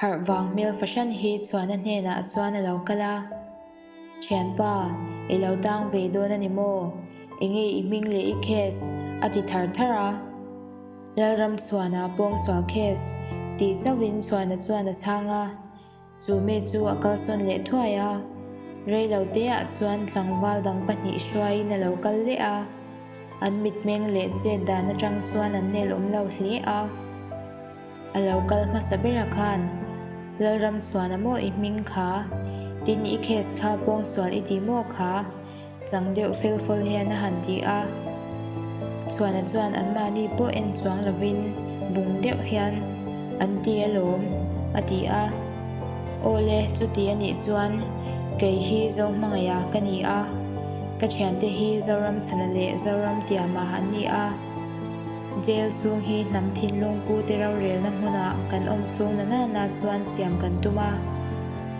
Harh vang hmel fahran hi Chhuana hnenah a chuan a lo kal a, Thianpa, i lo dang ve dawn a ni maw? Eng nge i hming leh i case? a ti thar thar a. Lalram Chhuana pawng sual case? tih chauh in Chhuana chuan a chhang a, chu mi chu a kal sawn leh thuai a. Rei lo te ah chuan tlangval dang pahnih hruai in a lo kal leh a, an mitmeng leh chet dan atang chuan an nelawm lo hle a. A lo kal hmasa bera khan Lalram suan a maw i hming kha? Tin i case kha pawng sual i ti maw kha? Chang deuh fel fawl hian a han ti a. Chuana chuan anmahni pawh en chuang lovin bung deuh hian an ti alawm a ti a. Aw le, chuti a nih chuan kei hi Zohmangaih ah ka ni a. Ka thiante hi Zoramchhana leh Zoramtiamah an ni a. Jail chhung hi hnam thinlung pute rorelna hmunah kan awm chhung na nana chuan siam kan tum a,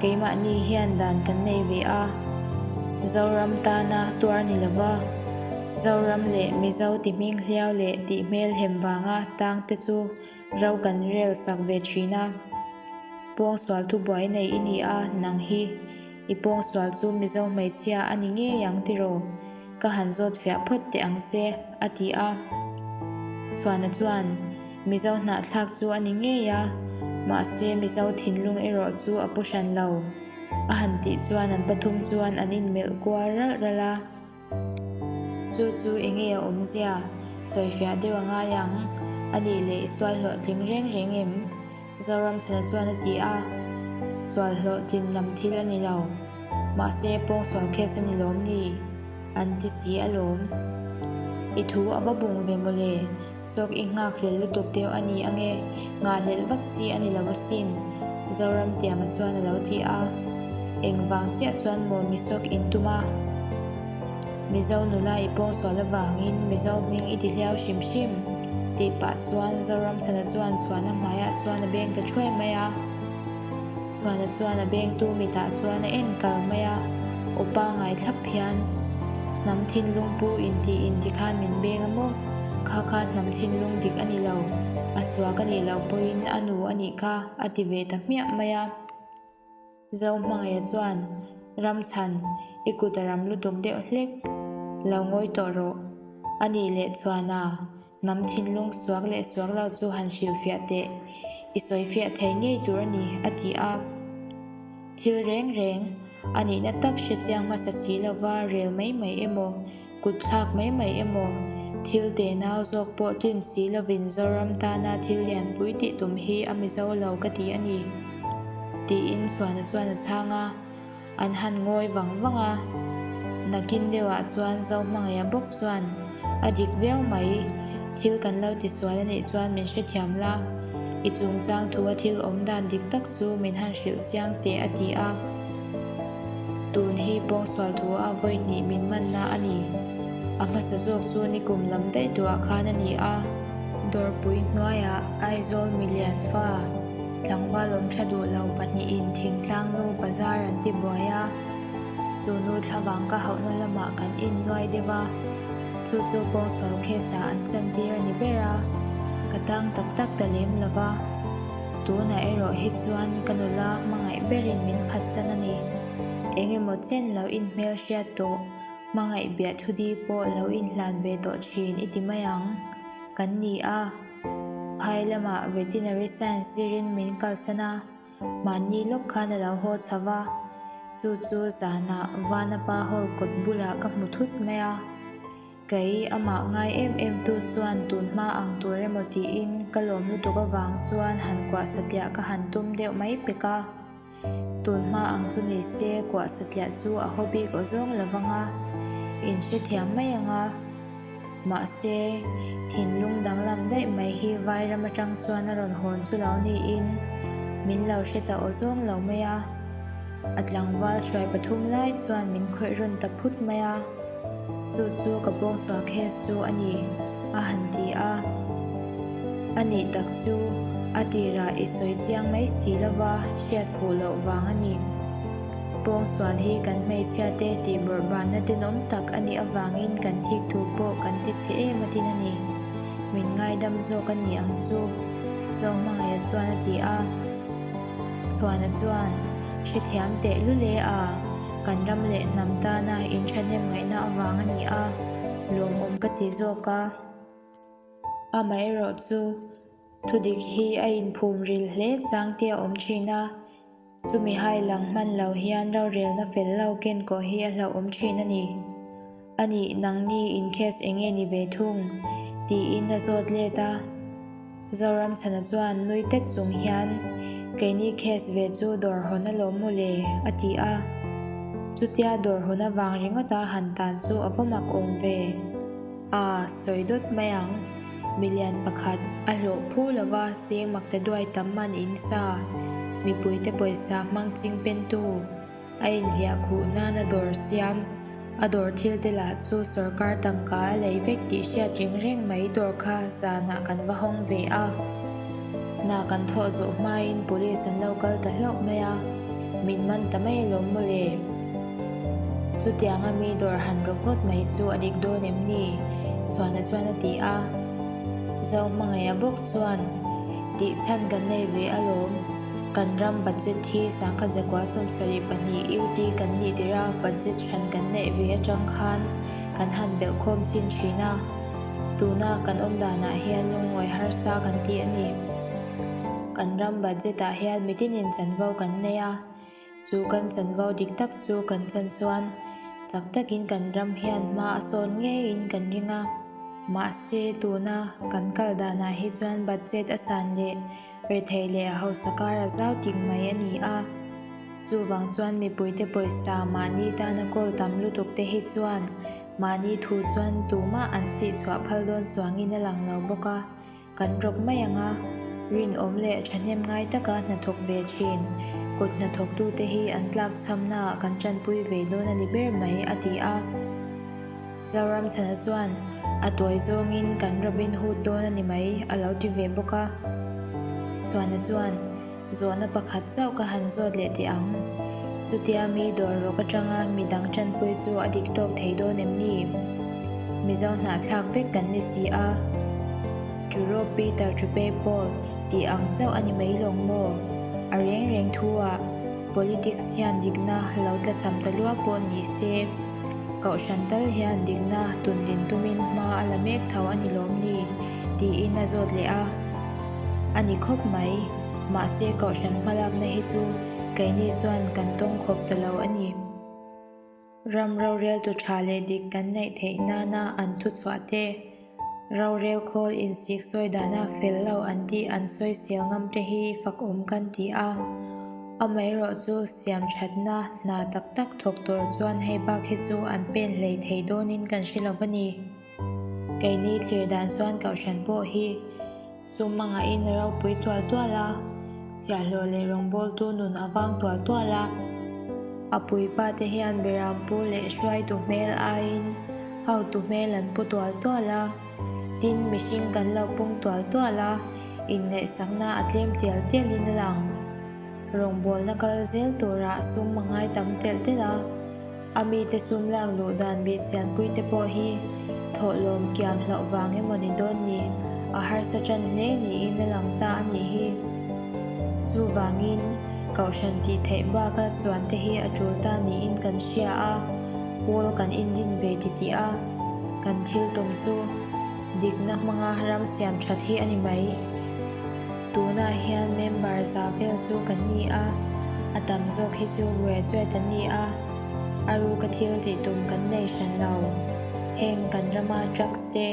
keimahni hian dan kan nei ve a, Zoram tana tuar ni lova, Zoram leh Mizo tihming hliau leh tih hmel hem vanga tang te chu ro kan rel sak ve thin a, Pawngsual thubuai nei i ni a, nang hi. I pawngsual chu Mizo hmeichhia a ni ngei ang tiraw? Ka han zawt fiah phawt teh ang che, a ti a. Chhuana chuan, Mizo hnahthlak chu a ni ngei a, mahse Mizo thinlung erawh chu a pu hran lo, a han tih chuan an pathum chuan an inmelh kual ralh ralh a. Chu chu enge a awm zia? Sawi fiah deuh a ngai ang. A nih leh i sual hlawh tling reng reng em? Zoramsana chuan a ti a, Sual hlawh tlin lam thil a ni lo. Mahse pawng sual case a ni lawm ni? An ti si alawm. I thu a va bung ve maw le? Sawk i nghakhlel lutuk deuh a ni ange, nghahhlelh vak chi a nilo asin, Zoram Tianga chuan a lo ti a. Engvang chiah chuan maw mi sawk in tum a? Mizo nula i pawngsual avangin Mizo hming i ti hliau hrim hrim, tih pah chuan Zoramsana chuan chhuahna hmaiah chuan a beng ta thuai mai a. Chuana chuan a bengtu mitah chuan a en kal mai a, Upa ngai thlap hian hnam thinlung pu in tih in ti khan min beng a maw? Kha kha hnam thinlung dik a ni lo, a suak a nih loh pawhin a nu a nih kha a ti ve ta hmiah mai a. Zo hmangaia chuan, Ramchhan, i kut a ram lutuk deuh hlek, lo ngawi tawh rawh, a nih leh chuan a. Mam thinlung suak leh suak lo chu han hrilh fiah teh, i sawi fiah thei ngei tur a ni, a ti a. Thil reng reng, a nihna tak hre chiang hmasa si lova rel mai mai emaw, kutthlak mai mai emaw, thil te nau zawk pawh tlin si lovin Zoram tana thil lianpui tih tum hi a mizo lo ka ti a ni, tiin Suana chuan a chhang a. An han ngawi vang vang a. Nakin deuhah chuan zo hmangaihah bawk chuan a dik viau mai. Thil kan lo tisual a nih chuan min hrethiam la. I chungchang thu a thil awm dan dik tak chu min han hrilh chiang teh a ti a. Tun hi pawngsual thu a vawi hnih min manna a ni. A hmasa zawk chu ni kum lam daih duhah khan a ni a. Dawrpui hnuaiah Aizawl milian fa. Tlangval awmtha duhlo pahnihin thingtlang nu bazar an ti buai a, chu nu thlavang ka hauhna lamah kan innuai deuh a, chu chu pawngsual case-ah an chantir a ni ber a, ka tang tak tak ta lem lo va, tunah erawh hi chuan ka nula hmangaih berin min phatsan a ni, eng emaw chen lo inhmelhriat tawh, hmangaih biahthu di pawh lo inhlan ve tawh thin i ti mai ang kan ni a. Phai lamah Veterinary Science sirin min kalsan a, mahni lawk khan a lo haw chho va, chu chu zanah Vanapa Hall kawt bulah ka hmu thut mai a. Kei amah ngai em em tu chuan tun hma ang tur emaw tiin ka lawm lutuk avang chuan han kuahsatliah ka han tum deuh mai pek a. Tunhma ang chu ni se, kuah satliah chu a haw bik awzawng lo vang a, in hre thiam mai ang a. Mahse, thinlung danglam daih mai hi Vairam atang chuan a rawn hawn chu lo niin min lo hre ta awzawng lo mai a. A tlangval hruai pathum lai chuan min khawih rawn ta phut mai a. Chu chu ka bawng sual case chu a ni a han ti a. A nih tak chu a tirah i sawi chiang mai si lova hriat fuh loh vang a ni. Bawng sual hi kan hmeichhia te tih bawrhvanna dinawm tak a nih avangin kan thik thu pawh kan ti chhe em atin a ni. Min ngaidam zawk a ni ang chu. Chawng hmangaihah chuan a ti a. Chhuana chuan, Hrethiam teh lu le a, kan ram leh hnam tana in thahnem ngaihna avang a ni a, lawmawm ka ti zawk a. Amaherawh chu, thudik hi a in phum ril hle chang te a awm thin a, chumi hailang hman lo hian rorelna fel lo ken koh hi a hlauhawm thin a ni. A nih, nangni in case eng nge ni ve thung? tiin a zawt let a. Zoramsana chuan nui tet chung hian, Keini case ve chu dawr hawn a lawm maw le? a ti a. Chutia dawr hun avang ringawta han tan chu a vaw mak awm ve. A sawi dawt mai ang. Milian pakhat a hlawh phu lo va, cheng mak ta duai tam man in sa. Mipuite pawisa hmang ching pentu. A inhliah khuh nana dawr siam a dawr thil te lah chu sorkar tangka a lei vek tih hriat reng reng mai dawr kha zanah kan va hawng ve a na kan thawh zawh hmain police an lo kal ta hlauh mai a min man ta mai lo maw le chutianga mi dawr han rawh ngawt mai chu a dik dawn em ni chhuana chuan a ti a zau hmangaih a bawk chuan tih chhan kan nei ve alawm. Kan ram budget hi sangkha zakua sawm sarih pahnih UT kan nih tirh a, budget hran kan neih ve atang khan kan han belh khawm chin thin a. Tuna kan awm danah hian lungngawi harsa kan tih a ni. Kan ram budget ah hian mitin in chanvo kan nei a. Chu kan chanvo dik tak chu kan chan chuan chak takin kan ram hian hma a sawn ngeiin kan ring a. Mahse, tuna kan kal danah hi chuan budget a san leh rethei leh hausa kar a zau tik mai a ni a. Chuvang chuan mipuite pawisa mahni tana call tam lutuk te hi chuan mahni thu chuan tumah an sihchhuah phal dawn chuangin a lang lo bawk a. Kan rawk mai ang a, rinawm leh thahnem ngai taka hnathawk ve thin. Kut hnathawktute hi an tlak chhamnaah kan tanpui ve dawn a ni ber mai, a ti a. Zoramthana chuan a tuai zawngin kan rawk inhut dawn a ni mai, a lo ti ve bawk a. Chhuana chuan. Zawhna pakhat zauh ka han zawt leh teh ang. Chutia mi dawr rawk atanga mi dang tanpui chu a dik tawk thei dawn em ni? Mizo hnahthlak vek kan ni si a, Churo Peter Chupei Paul tih ang chauh a ni mai lawng maw? A reng reng thu a, Politics hian dikna lo tla cham ta luah pawh ni se, Kohhran tal hian dikna tun din tumin hma a la mek tho a ni lawm ni? tiin a zawt leh a. A ni khawp mai. Mahse kohhran hmalakna hi chu keini chuan kan tawng khawp ta lo a ni. Ram rorel tu tha leh dik kan neih theih nana an thu chhuah te, rorel khawl in sik sawi dana fel lo an tih an sawi sial ngam te hi fakawm kan ti a. Amaherawh chu siam thatna hna tak tak thawk tur chuan hei bak hi chu an pen hlei thei dawnin kan hre lo a ni. Keini thlir dan chuan Kohhran pawh hi sum manga in a ropui tual tual a, chiahhlawh leh rawngbawltu nun a vang tual tual a. A puipa te hian Biram pu leh hruaitu hmel aiin hautu hmel an pu tual tual a, tin mihring kan lo pung tual tual a, inngaihsakna a tlem tial tial in a lang. Rawngbawlna kal zel turah sum a ngai tam telh telh a. A mite sum lak luh dan bih chianpui te pawh hi thawhlawm kiam hlauh vang emaw ni dawn ni, a harsa tan hle niin a lang ta a nih hi. Chuvangin, Kohhran tih theih baka chuan te hi a tul ta niin kan hria a, Paul kan indin ve titih a, kan thiltum chu dikna hmanga ram siam that hi a ni mai. Tunah hian member za vel chu kan ni a, a tam zawk hi chu graduate an ni a, a ru ka thil tih tum kan nei hran lo. Heng kan rama drugs te,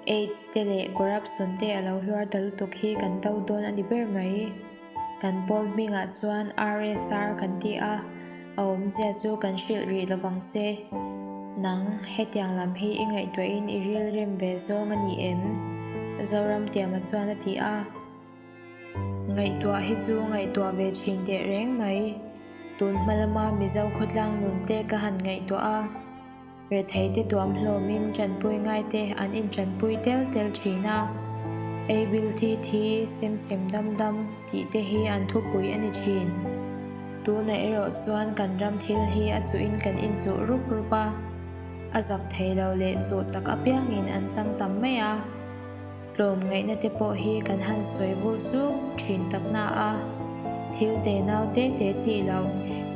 aids te leh corruption te a lo hluar ta lutuk hi kan do dawn a ni ber mai. Kan pawl hmingah chuan RSR kan ti a. A awmzia chu kan hrilh rih lo vang se. Nang, hetiang lam hi i ngaihtuahin i rilrem ve zawng a ni em? Zoramtiama chuan a ti a. Ngaihtuah hi chu ngaihtuah ve thin teh reng mai. Tun hma lama Mizo khawtlang nunte ka han ngaihtuah a. Rethei te tuam hlawmin tanpui ngaite an intanpui tel tel thin a. Ei bil thi thi, sem sem dam dam tih te hi an thupui a ni thin. Tunah erawh chuan kan ram thil hi a chuhin kan inchuh rup rup a. A zak thei lo leh chuh chak apiangin an chang tam mai a. Tlawm ngaihna te pawh hi kan han sawi vul chuk thin tak na a, thil te nau te te tih lo,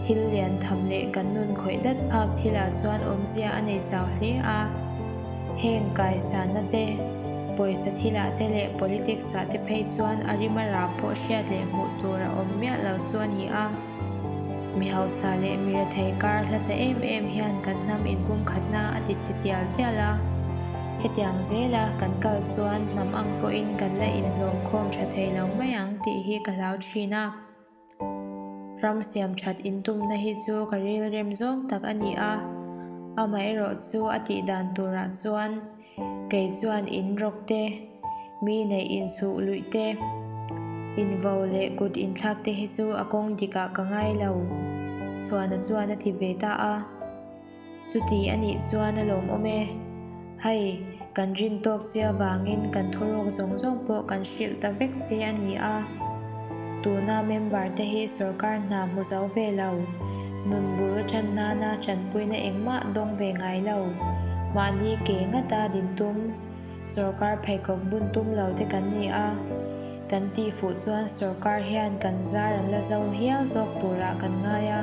thil lian tham leh kan nun khawih dat phak thil ah chuan awmzia a nei chau hle a. Heng kaisan na te, pawisa thil ah te leh politics ah te phei chuan a rim a ra pawh hriat leh hmuh tur a awm miah lo chu a ni a. Mi hausa leh mi rethei kar hla ta em em hian kan hnam inpum khatna a ti chhe tial tial a. Hetiang zela kan kal chuan hnam ang pawhin kan la inhlawmkhawm tha thei lo mai ang tih hi ka hlau thin a. Ram siamthat intumna hi chu ka rilrem zawng tak a ni a. Amaherawhchu a tihdan turah chuan. Kei chuan in rawk te, mi neih in suh luih te, in vo leh kut in thlak te hi chu a kawng dik ah ka ngai lo. Suana chuan a ti ve ta a, Chuti a nih chuan a lawmawm e, hei kan rin tawk chi avangin kan thurawk zawng zawng pawh kan hrilh ta vek che a ni a. Tuna member te hi sorkar hna hmu zo ve lo, nun bul a than nan a tanpui na engmah dawng ve ngai lo. Mahni ke ngat a din tum, sorkar pheikhawk bun tum lo te kan ni a, kan tih fuh chuan sorkar hian kan zar an la zo hial zawk tur ah kan ngai a.